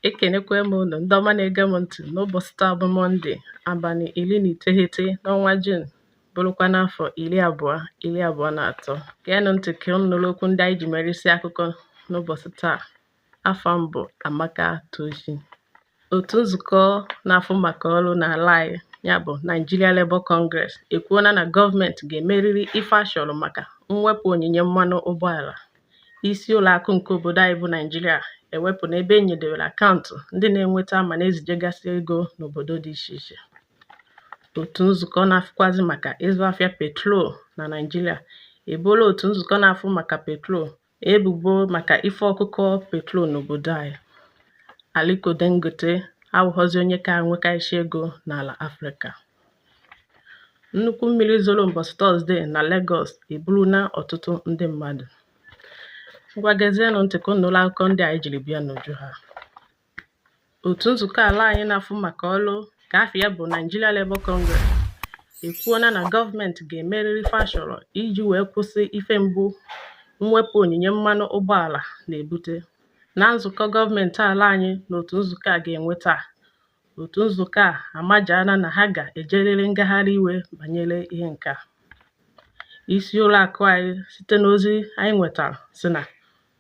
ekenekwa m unu ndị ọma na-ege m ntị n'ụbọchị taa bụ mọnde abalị iri na iteghete n'ọnwa jun bụrụkwa n'afọ iri abụọ iri abụọ na atọ geenụ ntị ka unu nụrụ okwu ndị anyị ji mere isi akụkọ n'ụbọchị taa afa m bụ amaka tochi otu nzukọ na-afụ maka ọrụ n'ala anyị ya bụ Nigeria Labour Congress ekwuola na gọọmenti ga-emerịrị ife a chọrọ maka mwepụ onyinye mmanụ ụgbọala isi ụlọ akụ nke obodo anyị bụ Naijiria ewepụna ebe e nyedewere akaụntụ ndị na-enweta ma na-ezijegasị ego n'obodo dị iche iche otu nzukọ na-afụkwazị maka ịzụ afịa petrol na Naijiria ebola otu nzukọ na-afụ maka petrol ebubo maka ife ọkụkọ petrol n'obodo anyị Aliko Dangote awụghọzi onye ka nwekarịsị ego n'ala Afrịka Nnukwu mmiri zoro ụbọchị Tọzdee na Legọs eburula ọtụtụ ndị mmadụ. Ngwa gezienụ ntị ka unu nụrụ akụkọ ndị anyị jiri bịa n'uju ha. Otu nzukọ ala anyị na-afụ maka ọrụ ka afa ya bụ Nigeria Labour Congress ekwuola na gọọmenti ga-emerịrị ife a chọrọ iji wee kwụsị ife mgbu mwepụ onyinye mmanụ ụgbọala na-ebute. Na nzukọ gọọmenti ala anyị na otu nzukọ a ga-enwe taa, Otu nzukọ a amajaala na ha ga-ejerịrị ngagharị iwe banyere ihe nke a. Isi ụlọ akụ anyị site n'ozi anyị nwetara sị na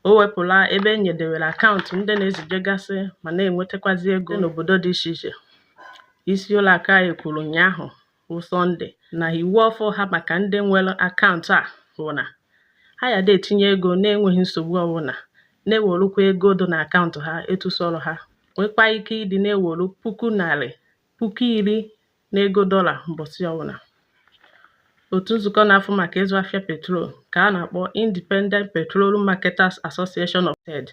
o wepụla ebe e nyedewere akaụntụ ndị na-ezijegasị ma na-enwetakwazi ego n'obodo dị iche iche. Isi ụlọ akụ anyị kwuru ụnyaahụ bụ Sọnde na iwu ọfụ ha maka ndị nwere akaụntụ a bụ na ha ya da etinye ego na-enweghị nsogbu ọbụla na-ewerukwa ego dị na akaụntụ ha etu sọrọ ha nwekwa ike ịdị na-eweru puku narị puku iri n'ego dọla mbọsị ọbụla otu nzukọ na-afụ maka ịzụ afịa petrol ka a na-akpọ Independent Petroleum Marketers Association of Ted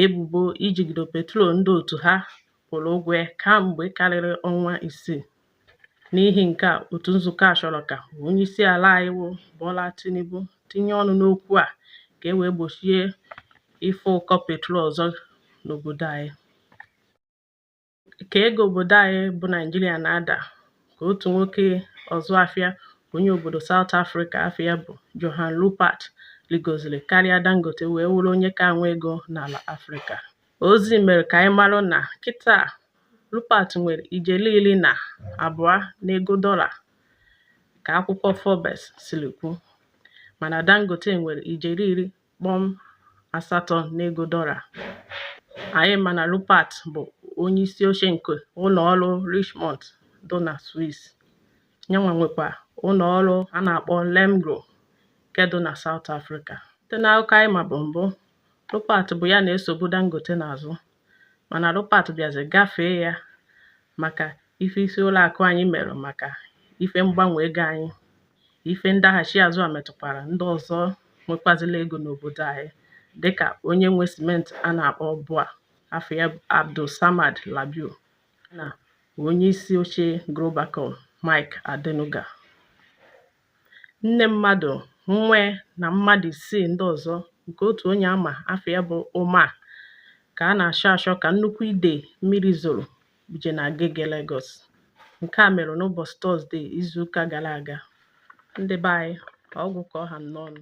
ebubo ijigido petrol ndị otu ha kwụrụ ụgwọ ya kamgbe karịrị ọnwa isii N'ihi nke a, otu nzukọ a chọrọ ka onyeisi ala anyị wụ Bola Tinubu tinye ọnụ n'okwu a ka e wee gbochie ife ụkọ petrol ọzọ n'obodo anyị. Ka ego obodo anyị bụ Naijiria na-ada ka otu nwoke ọzụ afịa onye obodo Saụt Afrịka afa ya bụ Johan Rupert rigoziri karịa Dangote wee wụrụ onye ka nwe ego n'ala Afrịka. Ozi mere ka anyị mara na kịta Rupert nwere ijeri iri na abụọ n'ego dọla ka akwụkwọ Forbes siri kwu mana Dangote nwere ijeri iri kpọm asatọ n'ego dọla. Anyị ma na Rupert bụ onye isi oche nke ụlọ ọrụ Richemont dị na Swiss, yanwa nwekwa ụlọ ọrụ a na-akpọ Remgro nke dị na South Africa. Site n'akụkọ anyị mabu mbụ, Rupert bụ ya na-esobu Dangote n'azụ mana Rupert bịazi gafee ya maka ife isi ụlọ akụ anyị mere maka ife mgbanwe ego anyị ife ndaghachi azụ a metụkwara ndị ọzọ nwekwazila ego n'obodo anyị dịka onye nwe simenti a na-akpọ BUA afa ya Abdul Samad Rabiu na onye isi oche Globacom Mike Adenuga nne mmadụ nwa ya na mmadụ isii ndị ọzọ nke otu onye ama afa ya bụ Umar ka a na-achọ achọ ka nnukwu ide mmiri zoro buje na Agege Lagos nke a mere n'ụbọchị tọzdee izuụka gara aga ndị be anyị ọ gwụ ka ọ ha m n'ọnụ